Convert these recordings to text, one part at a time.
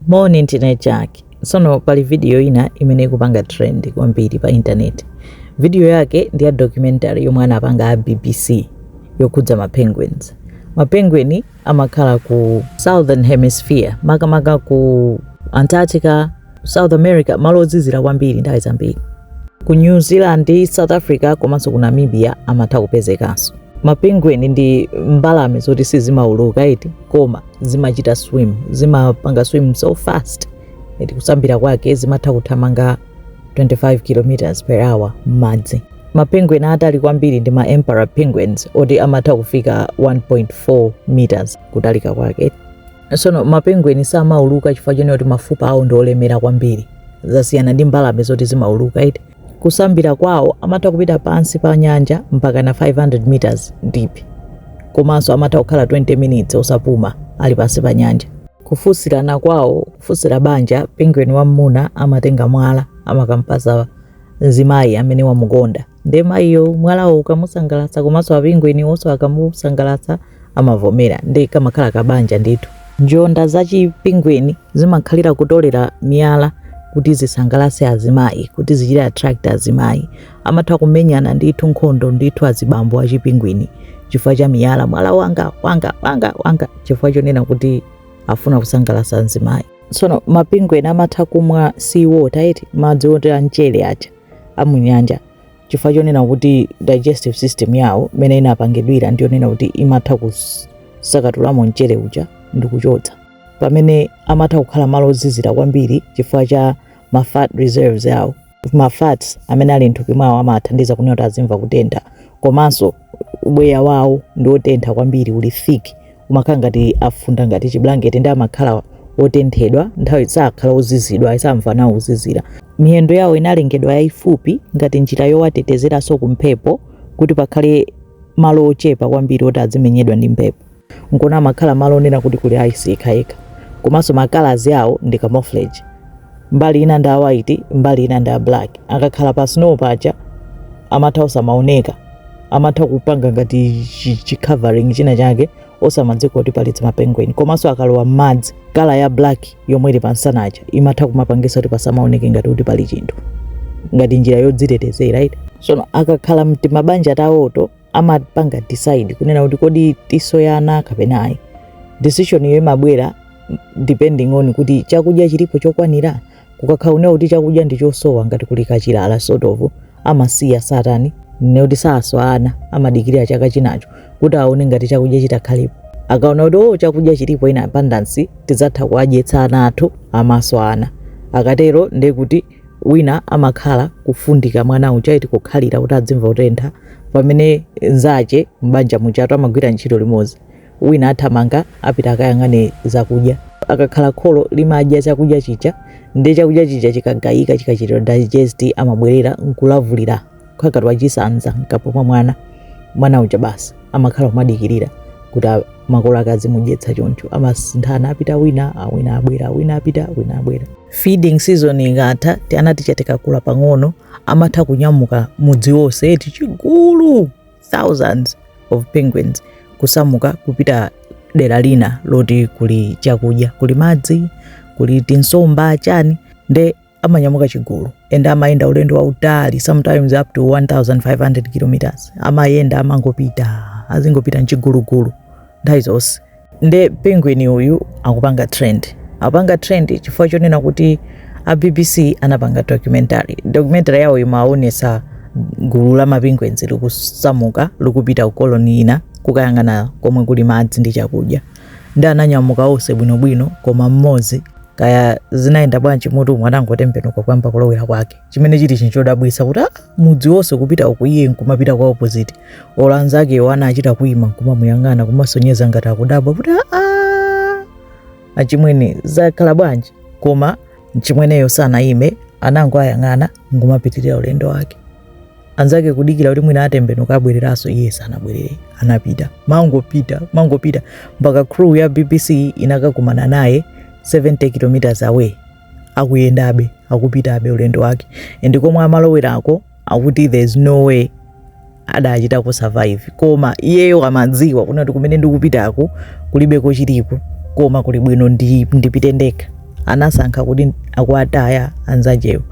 Moni ndine Jack. Tsono pali video ina imene ikupanga trend kwambiri pa internet. Video yake ndi ya documentary yomwe anapanga a BBC yokhudza ma penguins. Ma penguin amakhala ku Southern Hemisphere, makamaka ku Antarctica, South America, malo ozizira kwambiri nthawi zambiri. Ku New Zealand, South Africa komanso ku Namibia amatha kupezekanso. Ma penguin ndi mbalame zoti sizimauluka eti koma zimachita swim zimapanga swim so fast eti kusambira kwake zimatha kuthamanga 25 km per hour m'madzi mapenguin atali kwambiri ndi ma emperor penguins oti amatha kufika 1.4 meters kutalika kwake sono mapenguin samauluka chifukwa chonena kuti mafupa awo ndi olemera kwambiri zasiyana ndi mbalame zoti zimauluka eti Kusambira kwawo amatha kupita pansi pa nyanja mpakana 500 meters deep komanso amatha kukhala 20 minutes osapuma ali pansi pa nyanja. Kufunsirana kwawo, kufunsira banja, Penguin wammuna amatenga mwala amakampasa mzimayi amene wamukonda nde mayiyo mwalawo ukamusangalatsa komanso a Penguinwo nso akamusangalatsa, amavomera nde kamakhala kabanja ndithu njonda za chipingweni zimakhalira kutolera miyala kuti zisangalase azimayi kuti zichite attract azimayi amatha kumenyana ndithu nkhondo ndithu azibambo a chipingwini chifukwa cha miyala mwala wanga mwala wanga chifukwa chonena kuti afuna kusangalasa azimayi tsono mapingweni amatha kumwa sea water eti madzi oti amchere aja amunyanja chifukwa chonena kuti digestive system yawo imene inapangidwira ndi yonena kuti imatha kusakatulamo mchere uja ndi kuchotsa pamene amatha kukhala malo ozizira kwambiri chifukwa cha ma fat reserves yawo ma fats amene ali mthupi mwawo amathandiza kunena kuti azimva kutentha komanso ubweya wawo ndi otentha kwambiri uli thick umakhala ngati afunda ngati chiblanketi nde amakhala otenthedwa nthawi sakhala ozizidwa ayi samva nawo kuzizira miyendo yawo inalengedwa yayifupi ngati njira yowatetezeranso ku mphepo kuti pakhale malo ochepa kwambiri oti azimenyedwa ndi mphepo nkona amakhala malo onena kuti kuli ayisi yekhayekha komanso makalazi awo ndi camouflage mbali ina ndi a white mbali ina ndi a black akakhala pa snow paja amatha osamaoneka amatha kupanga ngati chi- chi covering china chake osamadziwa kuti pali timapengweni komanso akalowa m'madzi kala ya black yomwe ili pamsana ija imatha kumapangisa kuti pasamaoneke ngati kuti pali chinthu ngati njira yodzitetezera eti sono akakhala mtimabanja tawo to amapanga decide kunena kuti kodi tiswa ana kapena ayi decision iyo imabwera depending on kuti chakudya chilipo chokwanira kukakhala kunena kuti chakudya ndi chosowa ngati kuli kachilala sort of amasiya satani nekuti saswa ana amadikirira chaka chinacho kuti aone ngati chakudya chitakhalipo akaona kuti o chakudya chilipo in abundance tidzatha kuwadyetsa ana athu amaswa ana akatero ndekuti wina amakhala kufundika mwana uja eti kukhalira kuti adzimva kutentha pamene nzache m'banja mujatu amagwira ntchito limodzi wina athamanga apita akayang'ane zakudya akakhala kholo limadya chakudya chija ndi chakudya chija chikagayika chikachitika digest amabwerera nkulavulira kukhala ngati wachisanza mkamwa mwa mwana mwana uja basi amakhala kumadikirira kuti a- makolo ake azimudyetsa choncho amasinthana apita wina awina abwera wina apita wina abwera feeding season ikatha tiana tija tikakula pang'ono amatha kunyamuka mudzi wonse eti chigulu thousands of penguins kusamuka kupita dera lina loti kuli chakudya kuli madzi kuli tinsomba chani nde amanyamuka chigulu and amayenda ulendo wautali sometimes up to 1500 kilometers amayenda amangopita azingopita mchigulugulu nthawi zonse nde penguin uyu akupanga trend akupanga trend chifukwa chonena kuti a bbc anapanga documentary documentary yawo imaonetsa gulu la mapingwenzi likusamuka likupita ku koloni ina kukayang'ana komwe kuli madzi ndi chakudya nde ananyamuka onse bwino bwino koma mmodzi kaya zinayenda bwanji m'mutu umu anangotembenuka kuyamba kulowera kwake chimene chili chinthu chodabwitsa kuti ah, mudzi wonse kupita uku iye nkumapita kwa opposite olo anzakewo anachita kuima nkumamuyang'ana kumaonetsa ngati akudabwa kuti ah, ah, achimwene zakhala bwanji koma mchimweneyo sanayime anangoyang'ana nkumapitirira ulendo wake anzake kudikira kuti mwina atembenuka abwereranso iye sanabwerere anapita mangopita mangopita mpaka crew ya bbc inakakumana naye 70 kilometers away akuyendabe akupitabe ulendo wake and komwe amalowerako akuti there's no way akanachita ku survive koma iyeyo amadziwa kunena kuti kumene ndikupitako kulibeko chilichonse koma kuli bwino ndi- ndipite ndekha anasankha kuti akuwataya anzachewo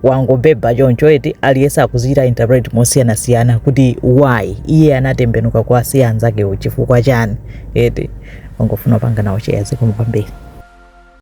yangobheba choncho eti aliyese akuichita interpret mosiyanasiyana kuti why iye anatembenuka kuwasiya anzakewo chifukwa chani eti ndangofuna kupanga nawo chiyaziko kwambiri